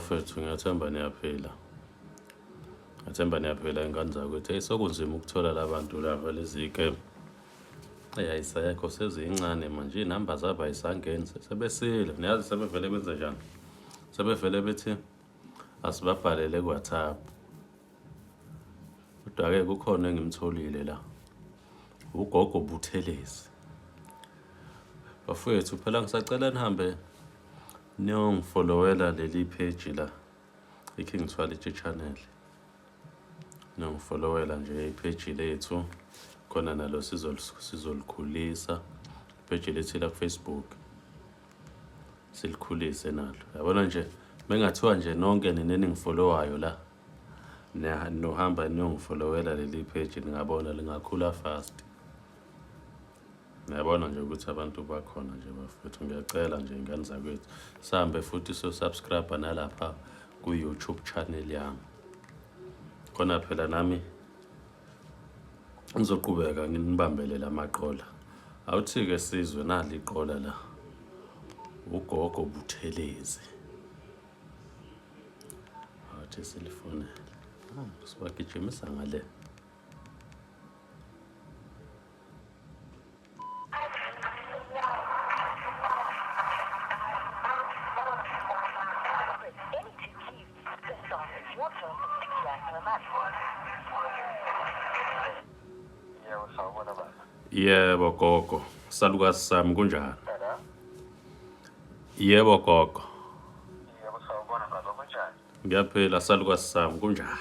Mfethu ngiyathemba niyaphila. Ngiyathemba niyaphila ingane zakwethu. Hey sokunzima ukuthola labantu laba lezike. Hey ayisekho sezincane manje inamba zabo ayisangeni sebesile. Niyazi sebevele benze njani? Sebevele bethi asibabhalele ku WhatsApp. Kodwa ke kukhona engimtholile la. Ugogo Buthelezi. Bafowethu phela ngisacela nihambe Niyongifolowela leli page la iKing Thwalitshe channel. Niyongifolowela nje ipage lethu khona nalo sizolikhulisa page lethu la Facebook. Silikhulise nalo. Yabona nje mengathiwa nje nonke nina eningifollowayo la nohamba niyongifolowela leli page ningabona lingakhula fast. Ngiyabona nje ukuthi abantu bakhona nje bafethu, ngiyacela nje ingane zakwethu sihambe futhi so-subscribe nalapha ku-YouTube channel yami. Khona phela nami ngizoqhubeka nginibambele la maqola. Awuthi-ke sizwe nali iqola la, ugogo Buthelezi. Awuthi silifonele, ah, sibagijimisa ngale. yebo gogo salukazi sami kunjani yebo gogo ngiyaphila salukazi sami kunjani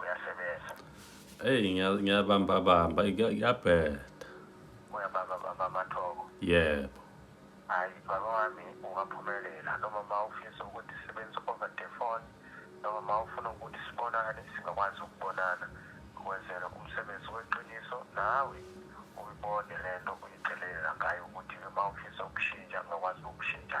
Uyasebenza. Hey ngiya- ngiyabamba bamba kuya- kuyabheda. Uyabamba bamba amathoko. Yebo. Hayi baba wami ungaphumelela noma ma ufisa ukuthi sisebenze over the phone noma ma ufuna ukuthi sibonane singakwazi ukubonana ukwenzela umsebenzi weqiniso nawe uyibone le nto uyicelela ngayo ukuthi-ke ma ufisa ukushintsha ungakwazi ukushintsha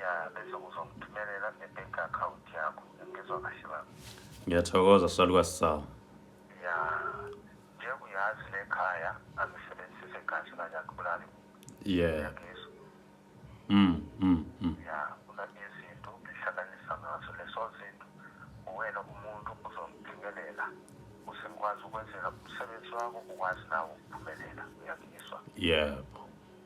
ya bese uzongithumelela nge-bank account yakho ngizwa kahle baba ngiyathokoza saluka sawa ya njengoba uyazi le khaya angisebenzise kahle manje akubulali yeah yangizwa mm mm mm ya una izinto ngihlanganisa ngazo leso zinto uwena umuntu uzongiphumelela usengikwazi ukwenzela umsebenzi wakho ukwazi nawo ukuphumelela uyangizwa yebo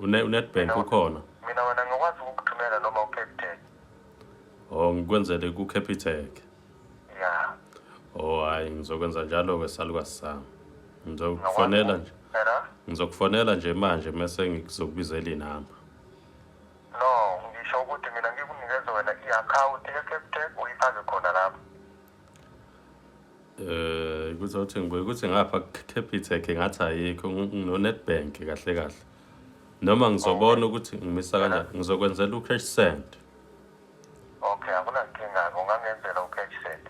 Une uNetbank ukhona. Mina wena ngikwazi ukukuthumela noma uCapitec. Oh ngikwenzele kuCapitec. Yeah. Oh hayi ngizokwenza njalo ke salukazi sami. Ngizokufonela nje. Hello? Ngizokufonela nje manje mese ngizokubizela inamba. No, ngisho ukuthi mina ngikunikeza wena i-account yeCapitec uyifake khona lapho. Eh kuzothi ngibuye ukuthi ngapha Capitec ngathi ayikho nginoNetbank kahle kahle. Noma ngizobona ukuthi ngimisa kanjani ngizokwenzela ucash send. Okay, akunankinga ungangenzela ucash send.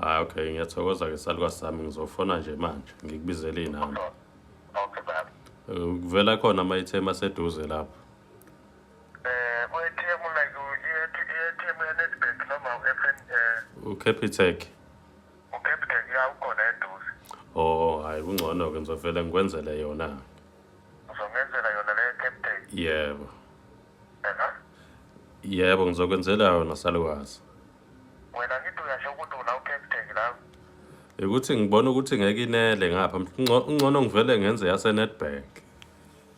Hayi okay ngiyathokoza ke saluka sami ngizofona nje manje ngikubizele inamba. Okay baba. Eh, Kuvela khona ama item aseduze lapho. uCapitec uCapitec ya ukhona eduze oh hayi kungcono ke ngizovele ngikwenzele yona uzongenzela yona le Capitec yebo yebo ngizokwenzela yona salukazi wena ngithi uyasho ukuthi una uCapitec la ukuthi ngibona ukuthi ngeke inele ngapha ungcono ngivele ngenze yaseNetbank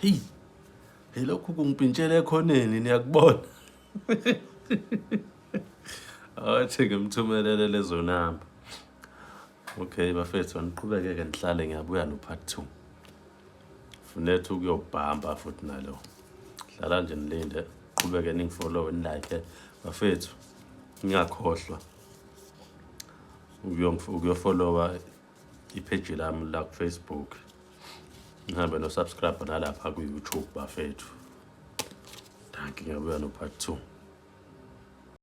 heyi yilokhu kungiphintshela ekhoneni niyakubona athi ngimthumelele lezo namba okay bafethu aniqhubeke-ke ndihlale ngiyabuya no-part two funetha ukuyobhamba futhi nalo dlala nje nilinde qhubeke ningifollowe nilike bafethu ngingakhohlwa ukuyofolowa ipheji lami la kufacebook nihambe nosubscribe nalapha ku-youtube bafethu danki ngiyabuya no-part two